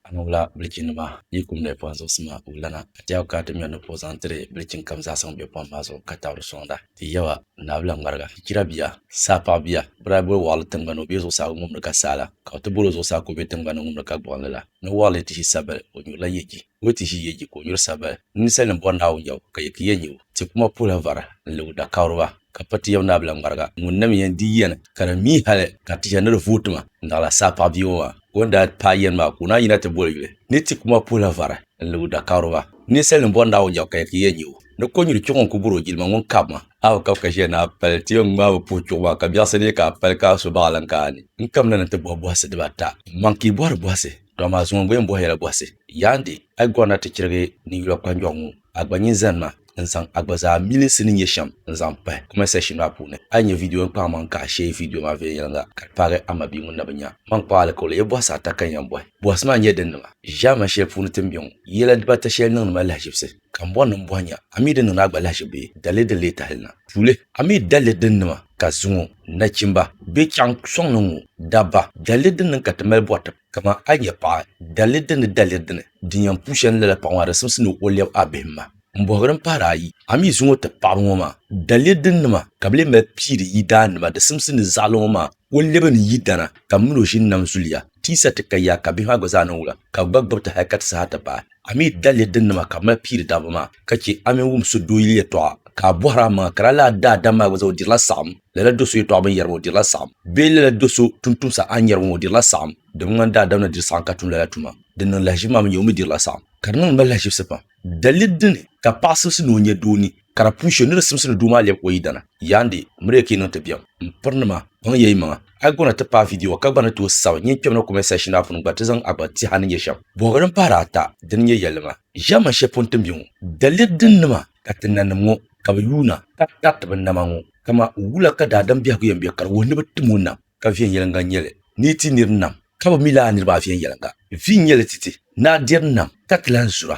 A ni wula bilichinnima ni yi kum di pɔhim zuɣusimaa wulana, ka ti yab ka ti ŋmɛri ni puhi zaŋ tiri bilichin kam zaasa ŋun be pɔhim maa zuɣu ka tabiri sɔŋda. Ti yaba, Naawula ŋmariga, chichira bia, saa paɣ bia, bɛ daa boli waɣili tiŋgbani o be zuɣusaa ŋumdi ka saa la, ka o ti boli o zuɣusaa ka o be tiŋgbani ŋumdi ka gbuɣinli la. Ni waɣili ti ʒi sabali, o nyuri la yeji, o mi ti ʒi yeji ka o nyuri sabali. Ni ninsalinim bɔri Naawuni yɛbu, ka yɛ ki yɛn nyi o, ti kuma puhi la vari n-lebi o dakauriba. ka pa Tijab Naa Bila Ŋmariga ŋun na mi yɛn di yɛn ka di mi hali ka Tija ni di vooti maa n daɣila saha paɣa bia ŋɔ maa. O ni daa paai yɛn maa ka o naan yina ti boli yuli ni ti kuma puhila vari n ligi o Dakaɣiriba. Ninsal nim bɔri Naawuni jɛbu ka yɛn ti yɛn nya o ni ko nyuli chuɣu ŋun ku bɔri o jilima ŋun kabi ma a bi kabi ka ʒiya ni a pali ti yɛn ŋmaai puhi chuɣu maa ka biɛɣisi ni ka a pali ka a so baɣa lan ka a ni n kamina ni ti bɔhi bɔhisi dibata. Maŋ ka yi bɔhiri bɔhisi. Dɔɣi maa zuŋɔ gba yɛn bɔhi yɛla bɔhisi. Yaandi, a yi gɔrina ti chirigi ninyula kpanjɔɣu ŋɔ, a gba nyin zani ma n-zaŋ a gba zaa milinsi ni nyɛ shɛm n-zaŋ pahi comment section maa puuni. A yi nya vidiyo n kpahi maŋ ka a sheei vidiyo maa viɛnyɛliŋga ka di paagi a mabia ŋun na bi nya maŋ kpahi alikauli yɛ bɔhisi ata ka n yɛn bɔhi. Bɔhisi maa n-nyɛ dinnima, Ʒiɛmani shɛli puuni ti ni be ŋɔ, yɛla dibata shɛli niŋdi ma lahiʒibisi. Ka m bɔri ni m bɔhi nya, a mi di niŋ ni a gba lahichi bee? Dali din lee tahili na. Tuuli, a mi dali din nima ka zuŋɔ, nachimba, bee chaŋ sɔŋ ni ŋɔ, dabba, dali din niŋ ka ti mali bɔriti, kaman a nya paɣa, dali din ni daliri dini din yɛn puu shɛli ni lala paɣa maa di simsi ni o lɛbi a bihi m-ma. M bɔhigiri n pahiri ayi, a mi zuŋɔ ti paɣaba ŋɔ maa, dali din nima ka bɛ lee mali piiri yi daannima di simsi ni zaɣili ŋɔ maa o lɛbi ni yi dana ka m mini o ʒini nam zuliya, tiisa ti ka ya ka bihi maa gba zaa niŋ wula ka bɛ gba gbibi ti hali ka ti saha ti paai. A mi daliya dinnima ka bɛ mali piiri dabba maa, ka chɛ a mini wumsi doo yili yɛtɔɣa, ka a bɔhir a maŋa ka lala a daadam maa gba zaa o dirila saɣim, lala do so yɛtɔɣa bi ni yɛri maa o dirila saɣim, bee lala do so tuntumsa a ni yɛri ŋɔ o dirila saɣim? Di bi ŋmani daadam ni diri saɣim ka tum lala tuma din niŋ lahiʒibu maa mi nyɛ o mi dirila saɣim, ka di niŋdi ma lahiʒibisi pam. Daliya dini ka paɣisibisi ni o nya doo ni Ka di pun chɛ ni di simsi ni doo maa lɛb o yidana, Yandi, miri ya ka yi niŋ ti biɛm. M pirinima, kpaŋ ya yi maŋa. A yi gɔna ti paai vidiyo ka gba ni tooi sabi nyin kpɛbu na kɔmɛnt sɛkshin maa puuni gba ti zaŋ a gba ti a ni nya shɛm. Bɔhigi din pahiri ata dini n-nyɛ yɛlli maa. Ʒiɛmani shɛli pun ti m-be ŋɔ. Daliri din ni maa ka ti nanim ŋɔ ka bɛ yuuna ka tariti bɛ nama ŋɔ kaman wula ka daadam biɛhigu yɛn be ka di wuhi ni bɛ tim o nam ka viɛnyɛliŋga n-nyɛ li ni yi ti nir nam ka bɛ mi lala niriba a viɛnyɛliŋga. Viɛnyɛlli ti ti ni a diri nam ka ti lahi zura.